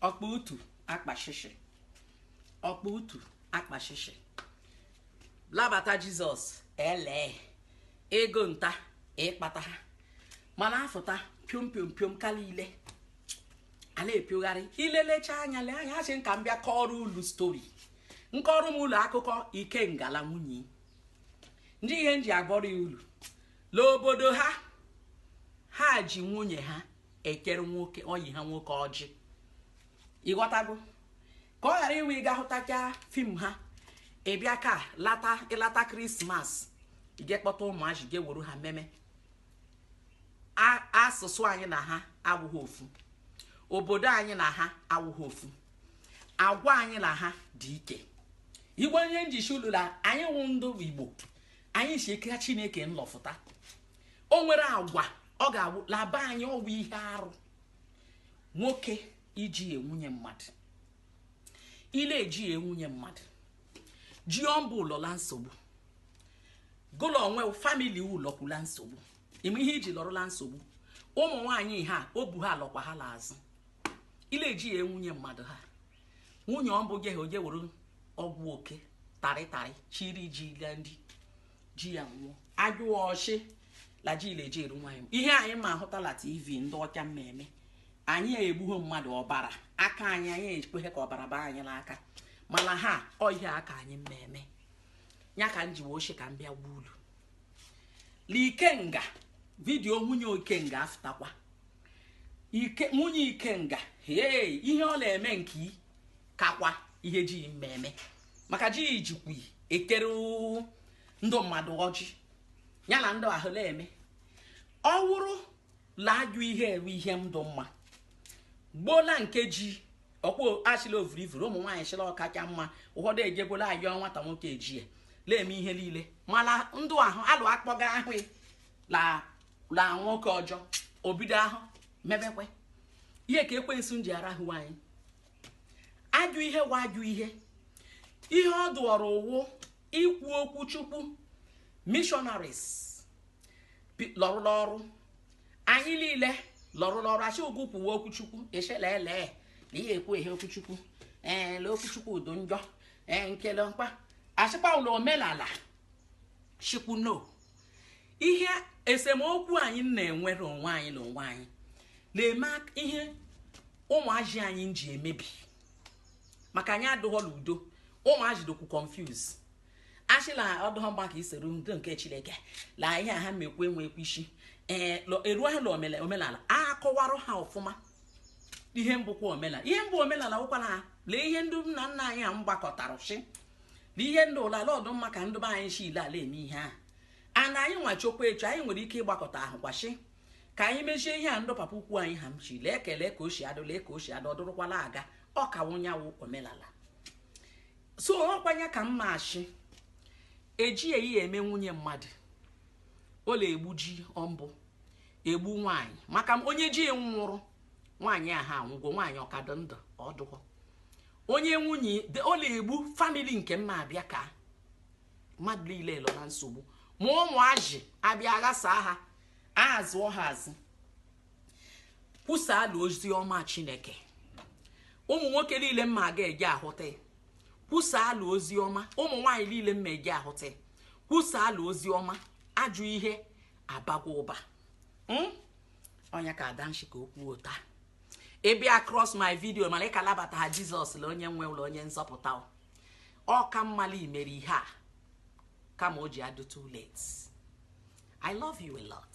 ọkpa utu akpashishi ọkpa utu akpashishi labata jizọs elee ego nta ịkpata ha mala afụta piom piom piom ka lile a la-epiogharị ilelecha anya lee anya asị m ka m bịa kọọrọ ulu stori m kọrọ m ulu akụkọ ikenga la nwunye ndị ihe m ji akọrọ ulu l'obodo ha ha ji nwunye ha ekere nwoke ọyị ha nwoke ọjị ịghọtago ka ọ ghara iwe ị ga hụtacha fim ha ị bịa ka ịlata krismas i je kpọta ụmụazị je wuru ha mmemme asụsụ anyị na ha awụghị ofu obodo anyị na ha awụghị ofu agwa anyị na ha dị ike ọ wụ ihe m ji shị ulu la anyị wụ ndụ igbo anyị shi eka chineke lọfụta o nwere agwa ọ ga-awụ la be anyị ọ wụ ihe arụ nwoke iji enwunye mmadụ ile eji enwunye mmadụ ji ọmbụ ụlọla nsogbu gụlọ onwe famili ụlọkwula nsogbu ime ihe iji lọrọ la nsogbu ụmụ nwaanyị ha obu ha lọkwa ha l'azụ ile eji ya enwunye mmadụ ha nwunye ọ bụ jehe o je were ọgwụ oke tarịtarị chiri ji ga ndị ji ya nwụọ ajụọ ọ shị la ji ile eji eru nwaanyị ihe anyị ma ahụta la tv ndị ọcha mmemme anyị egbughị mmadụ ọbara aka anyị anyị ekweghị ka ọbara baa anyị l'aka mana ha ọ ihe aka anyị mmemme ya ka m ji wee shị ka m bịa gwa ulu la ikenga vidiyo nwunye ikenga afụtakwa nwunye ikenga ee ihe ọ na-eme nke i kakwa ihe ji yi mmemme maka ji yi jikwa yi ekere ndụ mmadụ ọjị ya na ndụ ahụ na-eme ọ wụrụ la ajụ ihe eru ihe ndụ mma gbola nke ji ọkpụ a shị la ovurivuru ụmụ nwaanyị shị la ọ kacha mma ụfọdụ ejegbola ayọ nwata nwoke ejie na-eme ihe niile mana ndụ ahụ alụ akpọga ahụ ya la nwoke ọjọ o bido ahụ mebekwe ihe ka ekwensu ji arahụ anyị ajụ ihe wa ajụ ihe ihe ọ dụọrọ ụwụ ikwu okwu chukwu missionaries bi- lọrụla ọrụ anyị niile lọrụla ọrụ a shị gụ kwuwe okwu chukwu echela ele na ihe ekwu ihe okwu chukwu ee lee okwu chukwu udo njọ ee nkele mkpa a shịkwa la omenala chikwu no ihe esemokwu anyị na-enwere onwe anyị na onwe anyị na-eme ihe ụmụazị anyị ji emebi maka anyị adụghọla udo ụmụazị dụkwu confuse a shị la ọ dụghọ mkpa ka isoro ndị nke chineke la ihe ha mekwu enwekwu isi ee eruo ha na omenala a kọwarụ ha ọfụma ihe bụkwa omenala ihe bụ omenala wụkwa na lee ihe ndị nna nna anyị ha gbakọtara shi na ihe ndị ụlọ ala ọdụ mma ka ndị be anyị shi ile ala eme ihe ahụ ana anyị nwa chokwa echu anyị nwere ike ịgbakọta ahụkwa shi ka anyị mechie ihe a ndị papa ukwu anyị ha mchi lee ekele ka o si adụ lee ka o si adụ ọ dụrụkwala aga ọ ka wụnyawụ omenala so ọkwanye ka mma achị eji eyi eme nwunye mmadụ ọ la-egbu ji ọmbụ egbu nwaanyị maka onye ji nwụrụ nwaanyị ahụ anwụgo nwaanyị ọ ka dụ ndụ ọdụkwọ onye nwunye ọ la-egbu famili nke mma abịa ka mmadụ niile lọ na nsogbu ma ụmụazị abịa aghasa ha azụọ ha azụ kwusaala ozi ọma chineke ụmụ nwoke niile mma ga-eje ahụta kwusaala ozi ọma ụmụ nwaanyị niile mma eje ahụta kwusaala ozi ọma ajọ ihe abagwa ụba hmm? onye ka adanshi ka okwu ụta ị bịa across my video mana ị ka labataha jesus la onye nwe la onye nzọpụta ọ ka mma la i mere ihe a kama o ji adụ too late i love you a lot